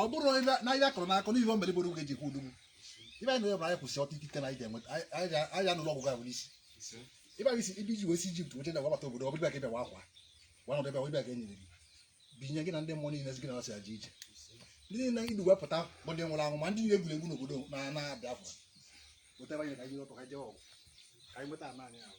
ọ bụrụ na ihe a kọrọ n'akụkọ n'ihe o mere gboo oge ji ekwu odogwu ibe anyị na-ebere anyị kwụsị ọta ikike na anyị ga-enweta anyị anụrụ ọgwụgwọ ahụ n'isi ibe anyị si ibe iji wee si Ijipt wete na wabata obodo ọ bụrụ ka ịbịa wa akwa wa nọdụ ebe wa ịbịa ka enyere gị binye gị na ndị mmụọ niile gị na ha si aja ije ndị niile idu wepụta bụ ndị nwụrụ anwụ ma ndị e gburu egbu n'obodo na na Biafra wetara anyị ka anyị ọtọ ka anyị jee ọgụ ka anyị nweta ala anyị ahụ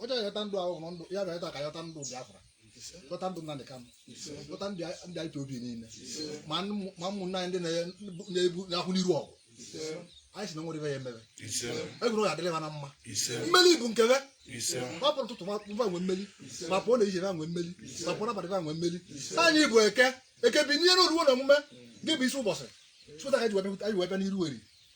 ọ chọrọ ịyọta ndụ ahụ hụrụ ndụ ya bịa ịta ka yọta ndụ Biafra yọta ndụ Nnamdi Kanu yọta ndị ndị IPOB niile ma ndị- ma ụmụnna anyị ndị na- na-ebu na-akwụ n'iru ọgụ anyị si na nwere ibe ya emebe egwuru ọ ga-adịrị ha na mma mmeli bụ nke be ọ pụrụ ụtụtụ ba nwe mmeli ma pụọ n'ehihie ba nwe mmeli ma pụọ n'abalị ba nwe mmeli anyị bụ eke eke bi n'ihe na oruwo na omume gị bụ isi ụbọchị sụta ka anyị ji wee bịa- anyị ji wee bịa n'iru eri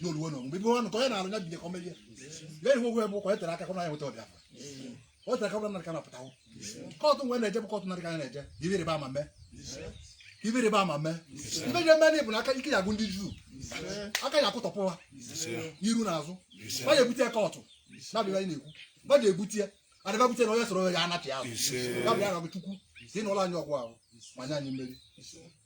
n'oluwo na ọmụmụ ebe ọnụ ka onye na-alụ ya bido ka ọ merie ya ihe ogwe bụ ka onye tere aka ka ọ na ya nweta ọbịa o tere aka ọ na-arịka na pụtawo kọtụ nwe na-eje bụ kọtụ na-arịka ya na-eje ka ibe rịba ama mee ka ibe rịba ama mee ibe je mee n'ịbụ na aka ike ya agụ ndị juu aka ya akụtọpụ ha n'iru na azụ ba ya ebute ya kọtụ na-abịa anyị na-ekwu ba ya ebute ya adịba bute na onye soro ya anachị azụ ya bịa na chukwu si nụọrọ anyị ọgụ ahụ ma nye anyị mmeri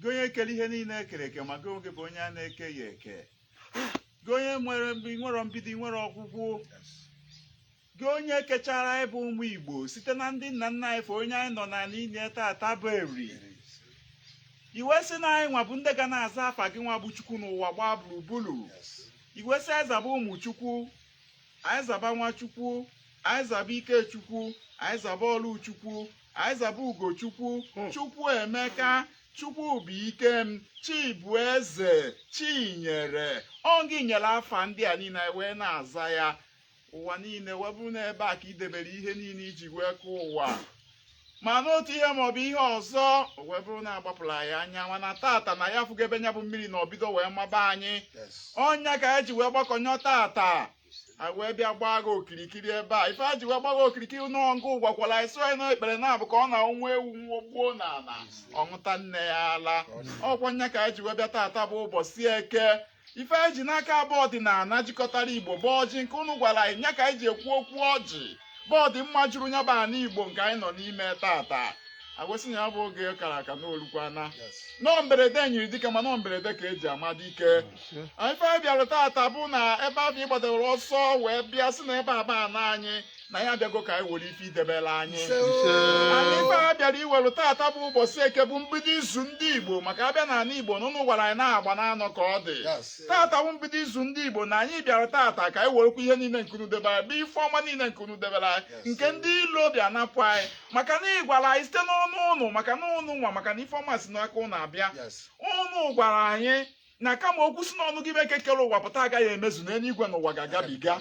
gị onye kere ihe niile ekere eke ma gị onwe bụ onye a na-eke ya eke gị onye nwere nwere mbido nwere ọgwụgwụ gị onye kechara anyị bụ ụmụ igbo site na ndị nna nna anyị fa onye anyị nọ n'ana ya tata bụ eri i wee sị na anyị nwa bụ ndị ga na-aza afa gị nwa bụ chukwu n'ụwa gbaa gburugburu i wee sị anyị zaba ụmụ chukwu anyị zaba nwa chukwu anyị zaba ike chukwu anyị zaba ọlụ chukwu Anyị zaba Ugochukwu hmm. Chukwuemeka Chukwubuike m Chibueze Chinyere ọ gị nyere afa ndị a niile anyị wee na-aza ya ụwa niile wee bụrụ n'ebe a ka i debere ihe niile i ji wee kụọ ụwa ma n'otu ihe maọbụ ihe ọzọ wee bụrụ na a gbapụrụ anyị anya mana tata na anyị afụgo ebe nya bụ mmiri nọ bido wee maba anyị ọ nya ka anyị ji wee gbakọnyọ tata a wee bịa gbaa gị okirikiri ebe a ife anyị ji wee gbaa gị okirikiri na ọ ngị gwakwara anyị sị anyị na ikpere na-abụ ka ọ na nwa ewu nwa gbuo n'ana ọ ṅụta nne ya ala ọ kwa nya ka anyị ji wee bịa taata bụ ụbọchị eke ife anyị ji n'aka bụ ọdịnana jikọtara igbo bụ ọjị nke unu gwara anyị nya ka anyị ji ekwu okwu ọjị bụ ọdịmma juru nya bụ ana igbo nke anyị nọ n'ime tata a wee sị na nya bụ oge kara aka na o lukwana na ọ mberede nyiri dike mana ọ mberede ka e ji ama dike ife anyị bịara tata bụ na ebe ahụ ị gbadawere ọsọ wee bịa sị na ebe a bụ ana anyị na anyị abịago ka anyị were ife i debere anyị ana ife anyị bịara iwere tata bụ ụbọchị eke bụ mbido izu ndị igbo maka a bịa na ana igbo na unu gwara anyị na agba n'anọ ka ọ dị tata bụ mbido izu ndị igbo na anyị bịara tata ka anyị werekwa ihe niile nke unu debere bụ ife ọma niile nke unu debere anyị nke ndị ilo bịa napụ anyị maka na ị gwara anyị site n'ọnụ ụnụ maka na ụnụ nwa maka na ife ọma si n'aka ụnụ abịa ụnụ gwara anyị na kama okwu si n'ọnụ gị eke kere ụwa pụta agaghị emezu na eluigwe na ụwa ga-agabiga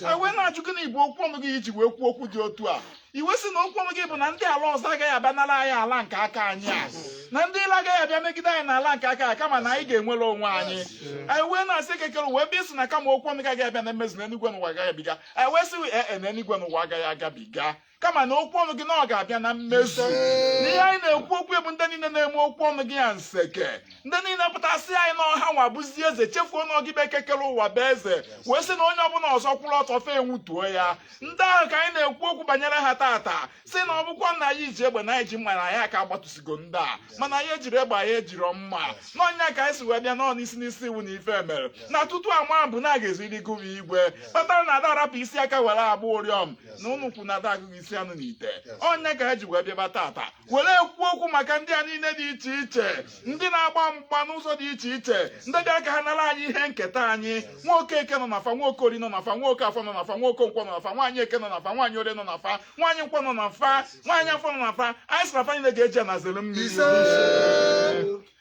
anyị wee na-ajụ gị na igbo okwu ọnụ gị i ji wee kwuo okwu dị otu a i wee sị na okwu ọnụ gị bụ na ndị ala ọzọ agaghị abịa nara anyị ala nke aka anyị a na ndị ilo agaghị abịa megide anyị n'ala nke aka ya kama na anyị ga-enwere onwe anyị anyị wee na-asị eke kere ụwa bịa ị sị na kama okwu ọnụ gị agaghị abịa na mmezu na eluigwe na ụwa ga-agabiga anyị wee sị ee e, na eluigwe na ụwa agaghị agabiga kama na okwu ọnụ gị na ọ ga-abịa na mmezu na ihe anyị na-ekwu okwu bụ ndị niile na-eme okwu ọnụ gị ya nseke ndị niile pụta sị anyị na ọ ha nwa bụzi eze chefuo na ọ gị bụ eke kere ụwa bụ eze wee sị na onye ọbụla ọzọ kwụrụ ọtọ fa enwutuo ya ndị ahụ ka anyị na-ekwu okwu banyere ha taata sị na ọ bụkwa na anyị ji egbe na anyị ji mma na anyị aka agbatụsigo ndị a mana anyị ejirọ egbe anyị ejirọ mma na ọ ya ka anyị si wee bịa n'ọ n'isi n'isi iwu na ife mere na tutu ama bụ na a ga-eziri gụwa igwe kpatara na a da arapụ isi aka were agba ụrịọm na ụnụ kwu na a da agụghị isi anụ n'ite ọ ya ka anyị ji wee bịaba taata were ekwu okwu maka ndị a niile dị iche iche ndị na-agba mgba n'ụzọ dị iche iche ndị bịara ka ha nara anyị ihe nketa anyị nwoke eke nọ na fa nwoke orie nọ na fa nwoke afọ nọ na fa nwoke nkwọ nọ na fa nwaanyị eke nọ na fa nwaanyị orie nọ na fa nwaanyị nkwọ nọ na fa nwaanyị afọ nọ na fa anyị sị na fa niile ga-eji ana zere mmiri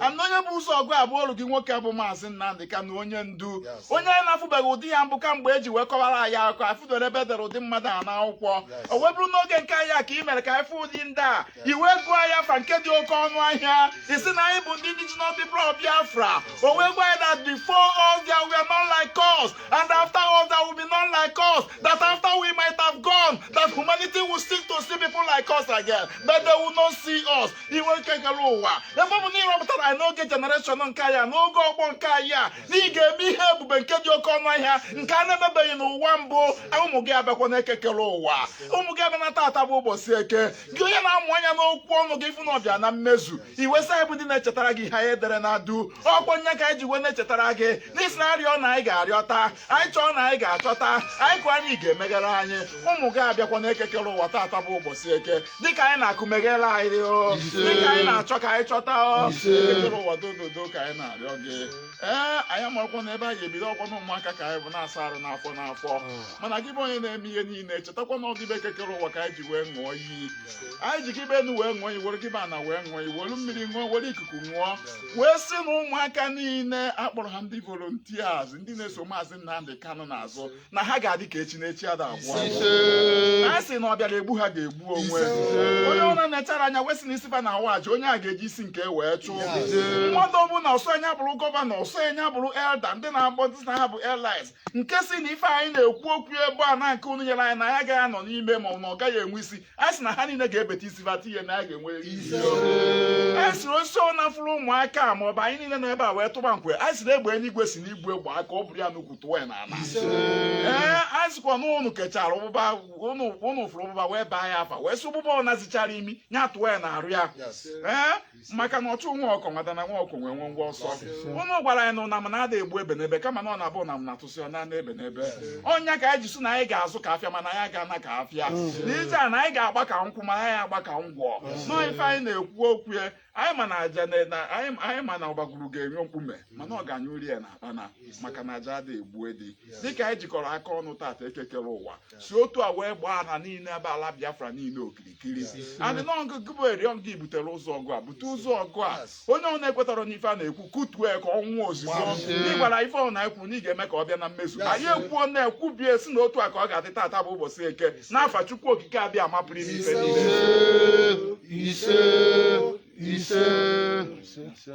ana onye bu ụzọ ọgụ a bụ oru gị nwoke bụ maazị Nnamdị Kanu onye ndu Yes. onye anyị na-afụbeghị ụdị ya mbụ kamgbe e ji wee kọwara anyị akụkọ afụdoro ebe e dere ụdị mmadụ a n'akwụkwọ Yes. o wee bụrụ n'oge nke anyị a ka i mere ka anyị fụ ụdị ndị a i wee gụọ anyị afa nke dị oke ọnụ ahịa ị sị na anyị bụ ndị indigenous people of Biafra o wee gwa anyị that before us there were none like us and after us there will be none like us that after we might have gone that humanity will seek to see people like us again but they will not see us i wee eke kere ụwa ebe ọ bụ na ị rọpụtara anyị n'oge generation nke anyị a n'oge ọgbọ nke anyị a na ị ga-eme ihe ebube nke dị oke ọnụ ahịa nke a na-emebeghị n'ụwa mbụ ụmụ gị abịakwana eke kere ụwa ụmụ gị abịa na tata bụ ụbọchị eke gị onye na-amụ anya n'okwu ọnụ gị fụ na ọ bịa na mmezu i wee sị anyị bụ ndị na-echetara gị ihe anyị edere na du ọkwa ya ka anyị ji wee na-echetara gị na ị sị na a rịọ na anyị ga-arịọta anyị chọọ na anyị ga-achọta anyị kụọ na ị ga-emeghere anyị ụmụ gị abịakwana eke kere ụwa tata bụ ụbọchị eke dịka anyị na-akụ meghere anyị o dịka anyị na-achọ ka anyị chọta o eke kere ụwa dododo ka anyị na-arịọ gị ee anyị amakwa na ebe anyị ebido ọkwa na ụmụaka ka anyị bụ na-asa arụ n'afọ n'afọ mana gị bụ onye na-eme ihe niile chetakwa na ọ gị bụ eke kere ụwa ka anyị ji wee ṅụọ iyi anyị ji gị bụ enu wee ṅụọ iyi were gị bụ ana wee ṅụọ iyi were mmiri ṅụọ were ikuku ṅụọ wee sị na ụmụaka niile a kpọrọ ha ndị volunteers ndị na-eso maazị Nnamdị Kanụ n'azụ na ha ga-adị ka echi na echi ada agwụ agwụ. anyị sị na ọ bịara egbu ha ga-egbu onwe onye ọbụla na-echara anya wee sị na isi ba na-awa aja onye a ga-eji isi nke wee chụọ mmadụ ọbụla ọ sọ nya bụrụ gọvanọ ọ sọ nya bụrụ elda ndị na-akpọ sị na ha bụ highness nke sị na ife anyị na-ekwu okwu ebe a na nke unu nyere anyị na ya agaghị anọ n'ime mana ọ gaghị enwe isi anyị sị na ha niile ga-ebeta isi bata ihe na a ga-enwe isi anyị sịrị osisi ọbụna fụrụ ụmụaka a ma ọ bụ anyị niile nọ ebe a wee tụba nkwe anyị sịrị egbe eluigwe si n'igwe gbaa ka o buru ya n'ukwu tụọ ya n'ala ee anyị sịkwa na ụnụ kechara ụbụba ụnụ ụnụ fụrụ ụbụba wee baa ya afa wee sị ụbụba ọbụna zichara imi ya tụọ ya n'arụ ya ee maka na ọchụ nwa ọkụkọ nwe ada na nwa ọkụkọ nwee nwe ngwa ọsọ ụnụ gwara anyị na ụnam ada egbu ebenebe kama na ọ na-abụ ụnam na-atụsị ọ na-ana ebenebe ọnya ka anyị ji sị na anyị ga-azụ ka afịa mana anyị ga-ana ka afịa n'ije a na anyị ga-agba ka nkwụ mana anyị agba ka ngwọ nọọ ife anyị na-ekwu okwu ya anyị ma na aja na- na- anyị anyị ma na ọgbaguru ga-enye mkpume mana ọ ga-anyụ uri ya na akpana maka na aja ada egbu edi dịka anyị jikọrọ aka ọnụ tata ekekere ụwa si otu a wee gbaa ana niile ebe ala biafra niile okirikiri adị na ọgụ gị bụ eriọ gị butere ụzọ ọgụ a bute ụzọ ọgụ a onye ọbụna ekwetarọ n'ife a na-ekwu kutue ka ọ nwụọ ozugbo ị gwara ife ọbụna i kwuru na ị ga-eme ka ọ bịa na mmezu anyị ekwuo na-ekwubie si na otu a ka ọ ga-adị tata bụ ụbọchị eke n'afa chukwu okike abịama pụrụ ime ife niile ise ise ise